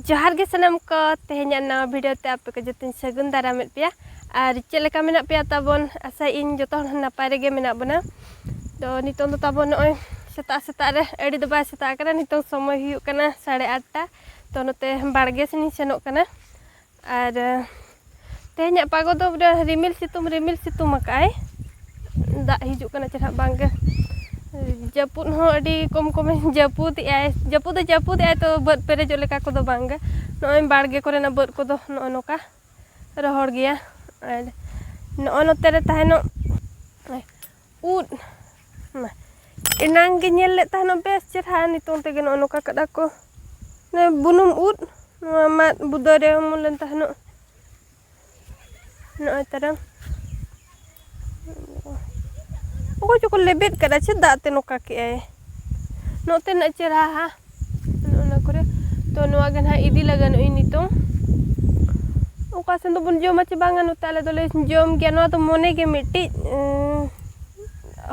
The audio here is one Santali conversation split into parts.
ᱡᱚᱦᱟᱨ ᱜᱮ ᱥᱟᱱᱟᱢ ᱠᱚ ᱛᱮᱦᱮᱧᱟᱜ ᱱᱟᱣᱟ ᱵᱷᱤᱰᱤᱭᱳ ᱛᱮ ᱟᱯᱮ ᱠᱚ ᱡᱚᱛᱚᱧ ᱥᱟᱹᱜᱩᱱ ᱫᱟᱨᱟᱢᱮᱫ ᱯᱮᱭᱟ ᱟᱨ ᱪᱮᱫ ᱞᱮᱠᱟ ᱢᱮᱱᱟᱜ ᱯᱮᱭᱟ ᱛᱟᱵᱚᱱ ᱟᱥᱟ ᱤᱧ ᱡᱚᱛᱚ ᱦᱚᱲ ᱱᱟᱯᱟᱭ ᱨᱮᱜᱮ ᱢᱮᱱᱟᱜ ᱵᱚᱱᱟ ᱛᱚ ᱱᱤᱛᱚᱝ ᱫᱚ ᱛᱟᱵᱚᱱ ᱱᱚᱜᱼᱚᱭ ᱥᱮᱛᱟᱜ ᱥᱮᱛᱟᱜ ᱨᱮ ᱟᱹᱰᱤ ᱫᱚ ᱵᱟᱭ ᱥᱮᱛᱟᱜ ᱠᱟᱱᱟ ᱱᱤᱛᱚᱝ ᱥᱚᱢᱚᱭ ᱦᱩᱭᱩᱜ ᱠᱟᱱᱟ ᱥᱟᱲᱮ ᱟᱴᱴᱟ ᱛᱚ ᱱᱚᱛᱮ ᱵᱟᱲᱜᱮ ᱥᱮᱱᱤᱧ ᱥᱮᱱᱚᱜ ᱠᱟᱱᱟ ᱟᱨ ᱛᱮᱦᱮᱧᱟᱜ ᱯᱟᱜᱚ ᱫᱚ ᱵᱚᱞᱮ ᱨᱤᱢᱤᱞ ᱥᱤᱛᱩᱝ ᱨᱤᱢᱤᱞ ᱥᱤᱛᱩᱝ ᱟᱠᱟᱫ ᱟᱭ ᱫᱟᱜ ᱦᱤᱡᱩᱜ ᱠᱟᱱᱟ ᱪᱮ ᱱᱟᱦᱟᱜ ᱵᱟᱝᱜᱮ ᱡᱟᱹᱯᱩᱫ ᱦᱚᱸ ᱟᱹᱰᱤ ᱠᱚᱢ ᱠᱚᱢᱮ ᱡᱟᱹᱯᱩᱫ ᱮᱫ ᱟᱭ ᱡᱟᱹᱯᱩᱫ ᱫᱚ ᱡᱟᱹᱯᱩᱫ ᱮᱫ ᱟᱭ ᱛᱚ ᱵᱟᱹᱫᱽ ᱯᱮᱨᱮᱡᱚᱜ ᱞᱮᱠᱟ ᱠᱚᱫᱚ ᱵᱟᱝᱜᱮ ᱱᱚᱜᱼᱚᱭ ᱵᱟᱲᱜᱮ ᱠᱚᱨᱮᱱᱟᱜ ᱵᱟᱹᱫᱽ ᱠᱚᱫᱚ ᱱᱚᱜᱼᱚᱭ ᱱᱚᱝᱠᱟ ᱨᱚᱦᱚᱲ ᱜᱮᱭᱟ ᱟᱨ ᱱᱚᱜᱼᱚᱭ ᱱᱚᱛᱮ ᱨᱮ ᱛᱟᱦᱮᱱᱚᱜ ᱩᱫ ᱢᱟ ᱮᱱᱟᱝ ᱜᱮ ᱧᱮᱞ ᱞᱮᱫ ᱛᱟᱦᱮᱱᱚᱜ ᱵᱮᱥ ᱪᱮᱨᱦᱟ ᱱᱤᱛᱚᱝ ᱛᱮᱜᱮ ᱱᱚᱜᱼᱚ ᱱᱚᱝᱠᱟ ᱠᱟᱫᱟ ᱠᱚ ᱱᱚᱣᱟ ᱵᱩᱱᱩᱢ ᱩᱫ ᱱᱚᱣᱟ ᱢᱟᱫ ᱵᱩᱫᱟᱹ ᱨᱮ ᱚᱢᱚᱱ ᱞᱮᱱ ᱛᱟᱦᱮᱱᱚᱜ ᱱᱚᱜᱼᱚᱭ ᱛᱟᱨᱟᱝ ᱚᱠᱚᱭ ᱪᱚᱠᱚ ᱞᱮᱵᱮᱫ ᱠᱟᱫᱟ ᱪᱮᱫ ᱫᱟᱜ ᱛᱮ ᱱᱚᱝᱠᱟ ᱠᱮᱜᱼᱟᱭ ᱱᱚᱛᱮᱱᱟᱜ ᱪᱮᱨᱦᱟ ᱚᱱᱟ ᱠᱚᱨᱮ ᱛᱚ ᱱᱚᱣᱟ ᱜᱮ ᱱᱟᱦᱟᱜ ᱤᱫᱤ ᱞᱟᱜᱟᱱ ᱟᱹᱧ ᱱᱤᱛᱚᱝ ᱚᱠᱟ ᱥᱮᱱ ᱫᱚᱵᱚᱱ ᱡᱚᱢᱟ ᱥᱮ ᱵᱟᱝᱟ ᱱᱚᱛᱮ ᱟᱞᱮ ᱫᱚᱞᱮ ᱡᱚᱢ ᱜᱮᱭᱟ ᱱᱚᱣᱟ ᱫᱚ ᱢᱚᱱᱮ ᱜᱮ ᱢᱤᱫᱴᱤᱡ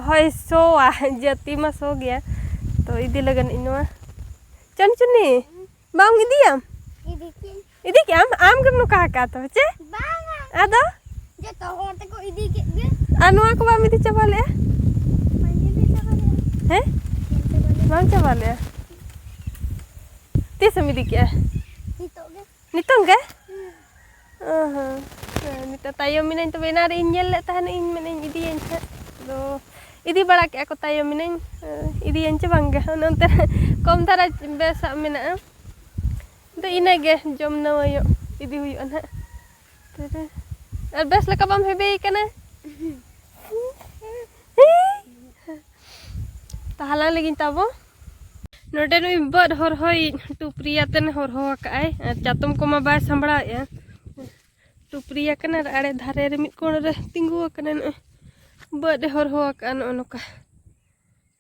ᱦᱳᱭ ᱥᱚᱣᱟ ᱡᱟᱹᱛᱤ ᱢᱟ ᱥᱚ ᱜᱮᱭᱟ ᱛᱚ ᱤᱫᱤ ᱞᱟᱜᱟᱱ ᱤᱧ ᱱᱚᱣᱟ ᱪᱟᱱᱪᱚᱱᱤ ᱵᱟᱢ ᱤᱫᱤᱭᱟ ᱤᱫᱤ ᱠᱮᱜ ᱟᱢ ᱟᱢ ᱜᱮᱢ ᱱᱚᱠᱟ ᱟᱠᱟᱫ ᱛᱚ ᱪᱮ ᱵᱟᱝᱟ ᱟᱫᱚ ᱡᱚᱛᱚ ᱦᱚᱲ ᱛᱮᱠᱚ ᱤᱫᱤ ᱠᱮᱫ ᱜᱮ ᱟᱨ ᱱᱚᱣᱟ ᱠᱚ ᱵᱟᱢ ᱤᱫᱤ ᱪᱟᱵᱟ ᱞᱮᱜᱼᱟ ᱦᱮᱸ ᱵᱟᱢ ᱪᱟᱵᱟ ᱞᱮᱜᱼᱟ ᱛᱤᱥᱮᱢ ᱤᱫᱤ ᱠᱮᱜᱼᱟ ᱱᱤᱛᱚᱜ ᱜᱮ ᱱᱤᱛᱚᱝ ᱜᱮ ᱚ ᱦᱚᱸ ᱱᱤᱛᱚᱜ ᱛᱟᱭᱚᱢ ᱢᱤᱱᱟᱹᱧ ᱛᱚᱵᱮ ᱮᱱᱟᱱ ᱨᱮ ᱤᱧ ᱧᱮᱞ ᱞᱮᱫ ᱛᱟᱦᱮᱱ ᱤᱧ ᱢᱮᱱᱟᱹᱧ ᱤᱫᱤᱭᱟᱹᱧ ᱦᱟᱸᱜ ᱟᱫᱚ ᱤᱫᱤ ᱵᱟᱲᱟ ᱠᱮᱜᱼᱟ ᱠᱚ ᱛᱟᱭᱚᱢ ᱢᱤᱱᱟᱹᱧ ᱤᱫᱤᱭᱟᱹᱧ ᱪᱮ ᱵᱟᱝᱜᱮ ᱚᱱᱮ ᱚᱱᱛᱮ ᱨᱮ ᱠᱚᱢ ᱫᱷᱟᱨᱟ ᱵᱮᱥᱟᱜ ᱢᱮᱱᱟᱜᱼᱟ ᱫᱚ ᱤᱱᱟᱹ ᱜᱮ ᱡᱚᱢ ᱱᱟᱣᱟᱭᱚᱜ ᱤᱫᱤ ᱦᱩᱭᱩᱜᱼᱟ ᱱᱟᱦᱟᱜ ᱛᱮᱨᱮ ᱟᱨ ᱵᱮᱥ ᱞᱮᱠᱟ ᱵᱟᱢ ᱦᱮᱵᱮ ᱠᱟᱱᱟ ᱛᱟᱦᱞᱟ ᱞᱟᱹᱜᱤᱫ ᱛᱟᱵᱚ ᱱᱚᱰᱮ ᱱᱩᱭ ᱵᱟᱹᱫ ᱦᱚᱨᱦᱚᱭᱤᱡ ᱴᱩᱯᱨᱤᱭᱟᱛᱮᱱ ᱦᱚᱨᱦᱚ ᱟᱠᱟᱫᱼᱟᱭ ᱟᱨ ᱪᱟᱛᱚᱢ ᱠᱚᱢᱟ ᱵᱟᱭ ᱥᱟᱢᱵᱲᱟᱣᱮᱫᱼᱟ ᱴᱩᱯᱨᱤᱭᱟ ᱠᱟᱱᱟ ᱟᱨ ᱟᱲᱮ ᱫᱷᱟᱨᱮ ᱨᱮ ᱢᱤᱫ ᱠᱚᱬ ᱨᱮ ᱛᱤᱸᱜᱩ ᱟᱠᱟᱱᱟ ᱱᱚᱜᱼᱚᱭ ᱵᱟᱹᱫ ᱮ ᱦᱚᱨᱦᱚ ᱟᱠᱟᱫᱼᱟ ᱱᱚᱜᱼᱚ ᱱᱚᱝᱠᱟ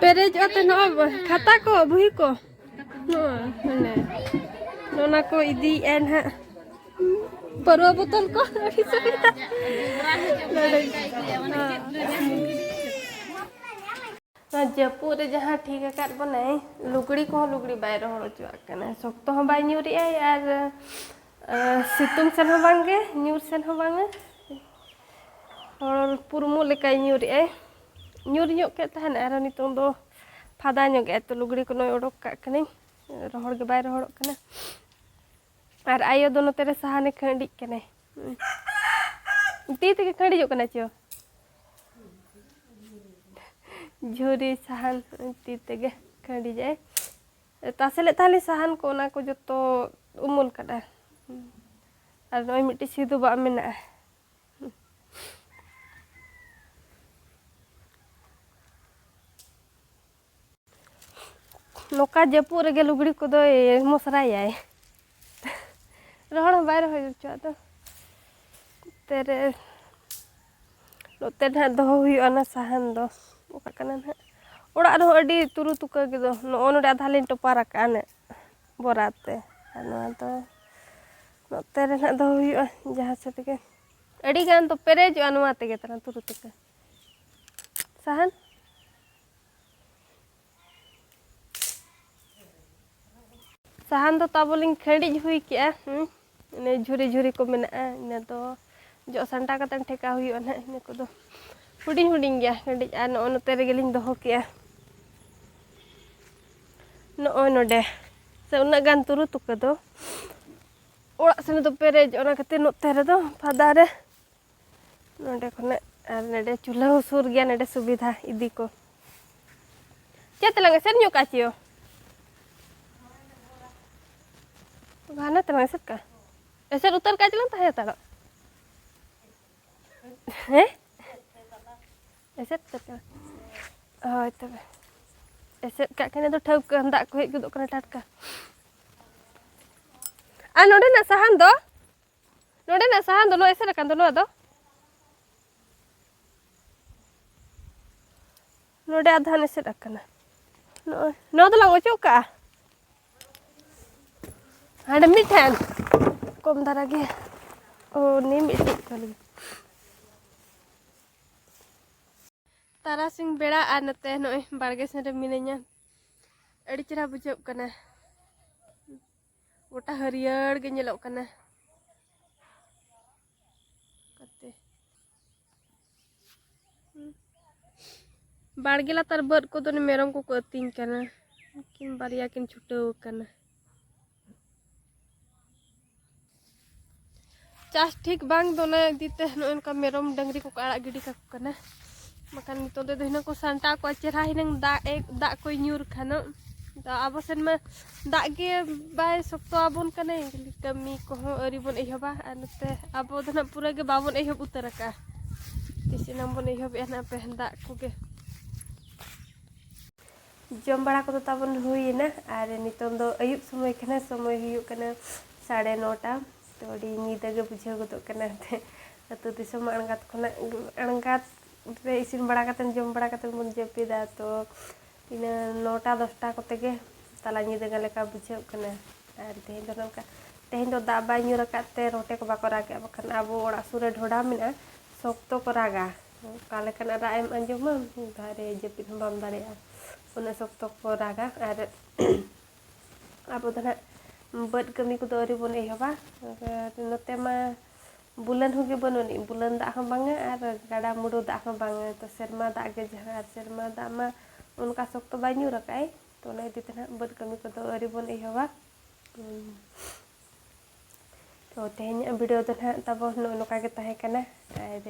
ᱯᱮᱨᱮᱡᱚᱜᱼᱟ ᱛᱚ ᱱᱚᱜᱼᱚᱭ ᱠᱷᱟᱛᱟ ᱠᱚ ᱵᱩᱦᱤ ᱠᱚ ᱱᱚᱜᱼᱚᱭ ᱢᱟᱱᱮ ᱚᱱᱟ ᱠᱚ ᱤᱫᱤᱭᱮᱫᱼᱟ ᱱᱟᱦᱟᱜ ᱯᱟᱹᱨᱣᱟᱹ ᱵᱳᱛᱚᱞ ᱠᱚ ᱟᱹᱰᱤ ᱥᱩᱵᱤᱫᱷᱟ ᱱᱚᱣᱟ ᱡᱟᱹᱯᱩᱫ ᱨᱮ ᱡᱟᱦᱟᱸ ᱴᱷᱤᱠ ᱟᱠᱟᱫ ᱵᱚᱱᱟᱭ ᱞᱩᱜᱽᱲᱤ ᱠᱚᱦᱚᱸ ᱞᱩᱜᱽᱲᱤ ᱵᱟᱭ ᱨᱚᱦᱚᱲ ᱦᱚᱪᱚᱣᱟᱜ ᱠᱟᱱᱟ ᱥᱚᱠᱛᱚ ᱦᱚᱸ ᱵᱟᱭ ᱧᱩᱨᱮᱜᱼᱟᱭ ᱟᱨ ᱥᱤᱛᱩᱝ ᱥᱮᱱ ᱦᱚᱸ ᱵᱟᱝᱜᱮ ᱧᱩᱨ ᱥᱮᱱ ᱦᱚᱸ ᱵᱟᱝᱟ ᱦᱚᱲ ᱯᱩᱨᱢᱩ ᱞᱮᱠᱟᱭ ᱧᱩᱨᱮᱜᱼᱟᱭ ᱧᱩᱨ ᱧᱚᱜ ᱠᱮᱫ ᱛᱟᱦᱮᱱ ᱟᱨ ᱱᱤᱛᱚᱝ ᱫᱚ ᱯᱷᱟᱫᱟ ᱧᱚᱜ ᱜᱮ ᱛᱚ ᱞᱩᱜᱽᱲᱤ ᱠᱚ ᱱᱚᱜᱼᱚᱭ ᱚᱰᱚᱠ ᱠᱟᱜ ᱠᱟᱹᱱᱟᱹᱧ ᱨᱚᱦᱚᱲ ᱜᱮ ᱵᱟᱭ ᱨᱚᱦᱚᱲᱚᱜ ᱠᱟᱱᱟ ᱟᱨ ᱟᱭᱳ ᱫᱚ ᱱᱚᱛᱮ ᱨᱮ ᱥᱟᱦᱟᱱᱮ ᱠᱷᱟᱹᱰᱤᱜ ᱠᱟᱱᱟᱭ ᱛᱤ ᱛᱮᱜᱮ ᱠᱷᱟᱹᱰᱤᱡᱚᱜ ᱠᱟᱱᱟ ᱪᱚ ᱡᱷᱩᱨᱤ ᱥᱟᱦᱟᱱ ᱛᱤ ᱛᱮᱜᱮ ᱠᱷᱟᱹᱰᱤᱡᱟᱭ ᱛᱟᱥᱮ ᱞᱮᱫ ᱛᱟᱦᱮᱸᱫ ᱞᱤᱧ ᱥᱟᱦᱟᱱ ᱠᱚ ᱚᱱᱟ ᱠᱚ ᱡᱚᱛᱚ ᱩᱢᱩᱞ ᱠᱟᱫᱟ ᱟᱨ ᱱᱚᱜᱼᱚᱭ ᱢᱤᱫᱴᱤᱡ ᱥᱤᱫᱷᱩ ᱵᱟᱜ ᱢᱮᱱᱟᱜᱼᱟ ᱱᱚᱝᱠᱟ ᱡᱟᱹᱯᱩᱫ ᱨᱮᱜᱮ ᱞᱩᱜᱽᱲᱤ ᱠᱚᱫᱚᱭ ᱢᱚᱥᱨᱟᱭᱟᱭ ᱨᱚᱦᱚᱲ ᱦᱚᱸ ᱵᱟᱭ ᱨᱚᱦᱚᱭ ᱦᱚᱪᱚᱣᱟᱜ ᱫᱚ ᱱᱚᱛᱮ ᱨᱮ ᱱᱚᱛᱮ ᱱᱟᱦᱟᱜ ᱫᱚᱦᱚ ᱦᱩᱭᱩᱜᱼᱟ ᱚᱱᱟ ᱥᱟᱦᱟᱱ ᱫᱚ ᱚᱠᱟ ᱠᱟᱱᱟ ᱱᱟᱦᱟᱜ ᱚᱲᱟᱜ ᱨᱮᱦᱚᱸ ᱟᱹᱰᱤ ᱛᱩᱨᱩ ᱛᱩᱠᱟᱹ ᱜᱮᱫᱚ ᱱᱚᱜᱼᱚ ᱱᱚᱰᱮ ᱟᱫᱷᱟ ᱞᱤᱧ ᱴᱚᱯᱟᱨ ᱟᱠᱟᱫᱼᱟ ᱱᱟᱜ ᱵᱚᱨᱟ ᱛᱮ ᱟᱨ ᱱᱚᱣᱟ ᱫᱚ ᱱᱚᱛᱮ ᱨᱮ ᱱᱟᱦᱟᱜ ᱫᱚᱦᱚ ᱦᱩᱭᱩᱜᱼᱟ ᱡᱟᱦᱟᱸ ᱥᱮᱫ ᱜᱮ ᱟᱹᱰᱤ ᱜᱟᱱ ᱫᱚ ᱯᱮᱨᱮᱡᱚᱜᱼᱟ ᱱᱚᱣᱟ ᱛᱮᱜᱮ ᱛᱟᱦᱮᱱᱟ ᱛᱩᱨᱩ ᱛᱩᱠᱟᱹ ᱥᱟᱦᱟᱱ ᱥᱟᱦᱟᱱ ᱫᱚ ᱛᱟᱵᱚᱞᱤᱧ ᱠᱷᱟᱹᱰᱤᱡ ᱦᱩᱭ ᱠᱮᱜᱼᱟ ᱤᱱᱟᱹ ᱡᱷᱩᱨᱤ ᱡᱷᱩᱨᱤ ᱠᱚ ᱢᱮᱱᱟᱜᱼᱟ ᱤᱱᱟᱹ ᱫᱚ ᱡᱚᱜ ᱥᱟᱢᱴᱟᱣ ᱠᱟᱛᱮ ᱴᱷᱮᱠᱟᱣ ᱦᱩᱭᱩᱜᱼᱟ ᱱᱟᱦᱟᱜ ᱤᱱᱟᱹ ᱠᱚᱫᱚ ᱦᱩᱰᱤᱧ ᱦᱩᱰᱤᱧ ᱜᱮᱭᱟ ᱠᱷᱟᱹᱰᱤᱡ ᱟᱨ ᱱᱚᱜᱼᱚ ᱱᱚᱛᱮ ᱨᱮᱜᱮᱞᱤᱧ ᱫᱚᱦᱚ ᱠᱮᱜᱼᱟ ᱱᱚᱜᱼᱚᱭ ᱱᱚᱰᱮ ᱥᱮ ᱩᱱᱟᱹᱜ ᱜᱟᱱ ᱛᱩᱨᱩ ᱛᱩᱠᱟᱹ ᱫᱚ ᱚᱲᱟᱜ ᱥᱮᱱ ᱫᱚ ᱯᱮᱨᱮᱡ ᱚᱱᱟ ᱠᱷᱟᱹᱛᱤᱨ ᱱᱚᱛᱮ ᱨᱮᱫᱚ ᱯᱷᱟᱫᱟ ᱨᱮ ᱱᱚᱰᱮ ᱠᱷᱚᱱᱟᱜ ᱟᱨ ᱱᱚᱰᱮ ᱪᱩᱞᱦᱟᱹ ᱦᱚᱸ ᱥᱩᱨ ᱜᱮᱭᱟ ᱱᱚᱰᱮ ᱥᱩᱵᱤᱫᱷᱟ ᱤᱫᱤ ᱠᱚ ᱪᱮᱫ ᱛᱮᱞᱟᱝ ᱮᱥᱮᱫ ᱧᱚᱜ ᱠᱟᱜ ᱪᱤᱭᱳ ᱜᱷᱟᱱᱮ ᱛᱮᱞᱟᱝ ᱮᱥᱮᱫ ᱠᱟᱜ ᱮᱥᱮᱫ ᱩᱛᱟᱹᱨ ᱠᱟᱜ ᱪᱮᱞᱟᱝ ᱛᱟᱦᱮᱸ ᱦᱟᱛᱟᱲᱚᱜ ᱦᱮᱸ ᱮᱥᱮᱫ ᱠᱟᱛᱮ ᱦᱳᱭ ᱛᱚᱵᱮ ᱮᱥᱮᱫ ᱠᱟᱜ ᱠᱷᱟᱱ ᱫᱚ ᱴᱷᱟᱹᱣᱠᱟᱹ ᱫᱟᱜ ᱠᱚ ᱦᱮᱡ ᱜᱚᱫᱚᱜ ᱠᱟᱱᱟ ᱴᱟᱴᱠᱟ ᱟᱨ ᱱᱚᱰᱮᱱᱟᱜ ᱥᱟᱦᱟᱱ ᱫᱚ ᱱᱚᱰᱮᱱᱟᱜ ᱥᱟᱦᱟᱱ ᱫᱚ ᱱᱚᱣᱟ ᱮᱥᱮᱫ ᱟᱠᱟᱱ ᱫᱚ ᱱᱚᱣᱟ ᱫᱚ ᱱᱚᱰᱮ ᱟᱫᱷᱟᱱ ᱮᱥᱮᱫ ᱟᱠᱟᱱᱟ ᱱᱚᱜᱼᱚᱭ ᱱᱚᱣᱟ ᱫᱚᱞᱟᱝ ᱚᱪᱚᱜ ᱠᱟᱜᱼᱟ ᱦᱟᱸᱰᱮ ᱢᱤᱫᱴᱷᱮᱱ ᱠᱚᱢ ᱫᱷᱟᱨᱟ ᱜᱮ ᱳ ᱱᱤᱢ ᱤᱴᱤᱡ ᱠᱚ ᱞᱟᱹᱜᱤᱫ ᱛᱟᱨᱟᱥᱤᱧ ᱵᱮᱲᱟ ᱟᱨ ᱱᱚᱛᱮ ᱱᱚᱜᱼᱚᱭ ᱵᱟᱲᱜᱮ ᱥᱮᱱ ᱨᱮ ᱢᱤᱱᱟᱹᱧᱟ ᱟᱹᱰᱤ ᱪᱮᱦᱨᱟ ᱵᱩᱡᱷᱟᱹᱜ ᱠᱟᱱᱟ ᱜᱚᱴᱟ ᱦᱟᱹᱨᱭᱟᱹᱲ ᱜᱮ ᱧᱮᱞᱚᱜ ᱠᱟᱱᱟ ᱠᱟᱛᱮ ᱵᱟᱲᱜᱮ ᱞᱟᱛᱟᱨ ᱵᱟᱹᱫ ᱠᱚᱫᱚ ᱢᱮᱨᱚᱢ ᱠᱚᱠᱚ ᱟᱹᱛᱤᱧ ᱠᱟᱱᱟ ᱩᱱᱠᱤᱱ ᱵᱟᱨᱭᱟ ᱠᱤᱱ ᱪᱷᱩᱴᱟᱹᱣ ᱠᱟᱱᱟ ᱪᱟᱥ ᱴᱷᱤᱠ ᱵᱟᱝ ᱫᱚᱱᱟ ᱤᱫᱤᱛᱮ ᱱᱚᱜᱼᱚᱭ ᱱᱚᱝᱠᱟ ᱢᱮᱨᱚᱢ ᱰᱟᱹᱝᱨᱤ ᱠᱚᱠᱚ ᱟᱲᱟᱜ ᱜᱤᱰᱤ ᱠᱟᱠᱚ ᱠᱟᱱᱟ ᱵᱟᱠᱷᱟᱱ ᱱᱤᱛᱚᱜ ᱫᱚ ᱦᱤᱱᱟᱹᱝ ᱠᱚ ᱥᱟᱱᱴᱟᱣ ᱠᱚᱣᱟ ᱪᱮᱨᱦᱟ ᱦᱤᱱᱟᱹᱝ ᱫᱟᱜ ᱮ ᱫᱟᱜ ᱠᱚᱭ ᱧᱩᱨ ᱠᱷᱟᱱᱚᱜ ᱫᱚ ᱟᱵᱚ ᱥᱮᱱ ᱢᱟ ᱫᱟᱜ ᱜᱮ ᱵᱟᱭ ᱥᱚᱠᱛᱚ ᱟᱵᱚᱱ ᱠᱟᱱᱟᱭ ᱠᱟᱹᱢᱤ ᱠᱚᱦᱚᱸ ᱟᱹᱣᱨᱤ ᱵᱚᱱ ᱮᱦᱚᱵᱟ ᱟᱨ ᱱᱚᱛᱮ ᱟᱵᱚ ᱫᱚ ᱱᱟᱜ ᱯᱩᱨᱟᱹ ᱜᱮ ᱵᱟᱵᱚᱱ ᱮᱦᱚᱵ ᱩᱛᱟᱹᱨ ᱟᱠᱟᱜᱼᱟ ᱛᱤᱥ ᱮᱱᱟᱝ ᱵᱚᱱ ᱮᱦᱚᱵᱮᱜᱼᱟ ᱱᱟᱜ ᱯᱮ ᱫᱟᱜ ᱠᱚᱜᱮ ᱡᱚᱢ ᱵᱟᱲᱟ ᱠᱚᱫᱚ ᱛᱟᱵᱚᱱ ᱦᱩᱭᱮᱱᱟ ᱟᱨ ᱱᱤᱛᱚᱝ ᱫᱚ ᱟᱹᱭᱩᱵ ᱥᱚᱢᱚᱭ ᱠᱟᱱᱟ ᱥᱚᱢᱚᱭ ᱦᱩᱭᱩᱜ ᱠᱟᱱᱟ ᱥᱟᱲᱮ ᱱᱚᱴᱟ ᱛᱚ ᱟᱹᱰᱤ ᱧᱤᱫᱟᱹ ᱜᱮ ᱵᱩᱡᱷᱟᱹᱣ ᱜᱚᱫᱚᱜ ᱠᱟᱱᱟ ᱮᱱᱛᱮᱫ ᱟᱹᱛᱩ ᱫᱤᱥᱚᱢ ᱟᱬᱜᱟᱛ ᱠᱷᱚᱱᱟᱜ ᱟᱬᱜᱟᱛ ᱨᱮ ᱤᱥᱤᱱ ᱵᱟᱲᱟ ᱠᱟᱛᱮᱫ ᱡᱚᱢ ᱵᱟᱲᱟ ᱠᱟᱛᱮᱫ ᱵᱚᱱ ᱡᱟᱹᱯᱤᱫᱟ ᱛᱚ ᱤᱱᱟᱹ ᱱᱚᱴᱟ ᱫᱚᱥᱴᱟ ᱠᱚᱛᱮ ᱜᱮ ᱛᱟᱞᱟ ᱧᱤᱫᱟᱹ ᱜᱟᱱ ᱞᱮᱠᱟ ᱵᱩᱡᱷᱟᱹᱜ ᱠᱟᱱᱟ ᱟᱨ ᱛᱮᱦᱮᱧ ᱫᱚ ᱱᱚᱝᱠᱟ ᱛᱮᱦᱮᱧ ᱫᱚ ᱫᱟᱜ ᱵᱟᱭ ᱧᱩᱨ ᱟᱠᱟᱫ ᱛᱮ ᱨᱚᱴᱮ ᱠᱚ ᱵᱟᱠᱚ ᱨᱟᱜᱮᱜᱼᱟ ᱵᱟᱠᱷᱟᱱ ᱟᱵᱚ ᱚᱲᱟᱜ ᱥᱩᱨ ᱨᱮ ᱰᱷᱚᱰᱟ ᱢᱮᱱᱟᱜᱼᱟ ᱥᱚᱠᱛᱚ ᱠᱚ ᱨᱟᱜᱟ ᱚᱠᱟ ᱞᱮᱠᱟᱱᱟᱜ ᱨᱟᱜ ᱮᱢ ᱟᱸᱡᱚᱢᱟ ᱢᱤᱫ ᱫᱷᱟᱣ ᱨᱮ ᱡᱟᱹᱯᱤᱫ ᱦᱚᱸ ᱵᱟᱢ ᱫᱟᱲᱮᱭᱟᱜᱼᱟ ᱩᱱᱟᱹᱜ ᱥᱚᱠᱛᱚ ᱠᱚ ᱨᱟᱜᱟ ᱟᱨ ᱟᱵᱚ ᱫᱚ ᱱᱟᱦᱟᱜ ᱵᱟᱹᱫᱽ ᱠᱟᱹᱢᱤ ᱠᱚᱫᱚ ᱟᱹᱣᱨᱤ ᱵᱚᱱ ᱮᱦᱚᱵᱟ ᱟᱨ ᱱᱚᱛᱮ ᱢᱟ ᱵᱩᱞᱟᱹᱱ ᱦᱚᱸᱜᱮ ᱵᱟᱹᱱᱩᱜ ᱟᱹᱱᱤᱡ ᱵᱩᱞᱟᱹᱱ ᱫᱟᱜ ᱦᱚᱸ ᱵᱟᱝᱟ ᱟᱨ ᱜᱟᱰᱟ ᱢᱩᱰᱩ ᱫᱟᱜ ᱦᱚᱸ ᱵᱟᱝᱟ ᱛᱚ ᱥᱮᱨᱢᱟ ᱫᱟᱜ ᱜᱮ ᱡᱟᱦᱟᱸ ᱟᱨ ᱥᱮᱨᱢᱟ ᱫᱟᱜ ᱢᱟ ᱚᱱᱠᱟ ᱥᱚᱠᱛᱚ ᱵᱟᱭ ᱧᱩᱨ ᱟᱠᱟᱫ ᱟᱭ ᱛᱚ ᱚᱱᱟ ᱤᱫᱤ ᱛᱮ ᱱᱟᱦᱟᱜ ᱵᱟᱹᱫᱽ ᱠᱟᱹᱢᱤ ᱠᱚᱫᱚ ᱟᱹᱣᱨᱤ ᱵᱚᱱ ᱮᱦᱚᱵᱟ ᱛᱚ ᱛᱮᱦᱮᱧᱟᱜ ᱵᱷᱤᱰᱤᱭᱳ ᱫᱚ ᱱᱟᱦᱟᱜ ᱛᱟᱵᱚᱱ ᱱᱚᱜᱼᱚ ᱱᱚᱝᱠᱟ ᱜᱮ ᱛᱟᱦᱮᱸ ᱠᱟᱱᱟ ᱟᱨ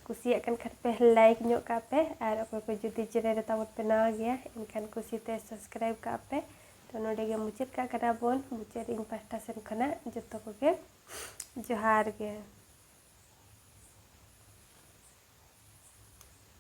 ᱠᱩᱥᱤᱭᱟᱜ ᱠᱟᱱ ᱠᱷᱟᱱ ᱯᱮ ᱞᱟᱭᱤᱠ ᱧᱚᱜ ᱠᱟᱜ ᱯᱮ ᱟᱨ ᱚᱠᱚᱭ ᱠᱚ ᱡᱩᱫᱤ ᱪᱮᱱᱮᱞ ᱨᱮ ᱛᱟᱵᱚᱱ ᱯᱮ ᱱᱟᱣᱟ ᱜᱮᱭᱟ ᱮᱱᱠᱷᱟᱱ ᱠᱩᱥᱤᱛᱮ ᱥᱟᱵᱥᱠᱨᱟᱭᱤᱵ ᱠᱟᱜ ᱯᱮ ᱛᱚ ᱱᱚᱰᱮ ᱜᱮ ᱢᱩᱪᱟᱹᱫ ᱠᱟᱜ ᱠᱟᱱᱟ ᱵᱚᱱ ᱢᱩᱪᱟᱹᱫ ᱤᱧ ᱯᱟᱦᱴᱟ ᱥᱮᱱ ᱠᱷᱚᱱᱟᱜ ᱡᱚᱛᱚ ᱠᱚᱜᱮ ᱡᱚᱦᱟᱨ ᱜᱮ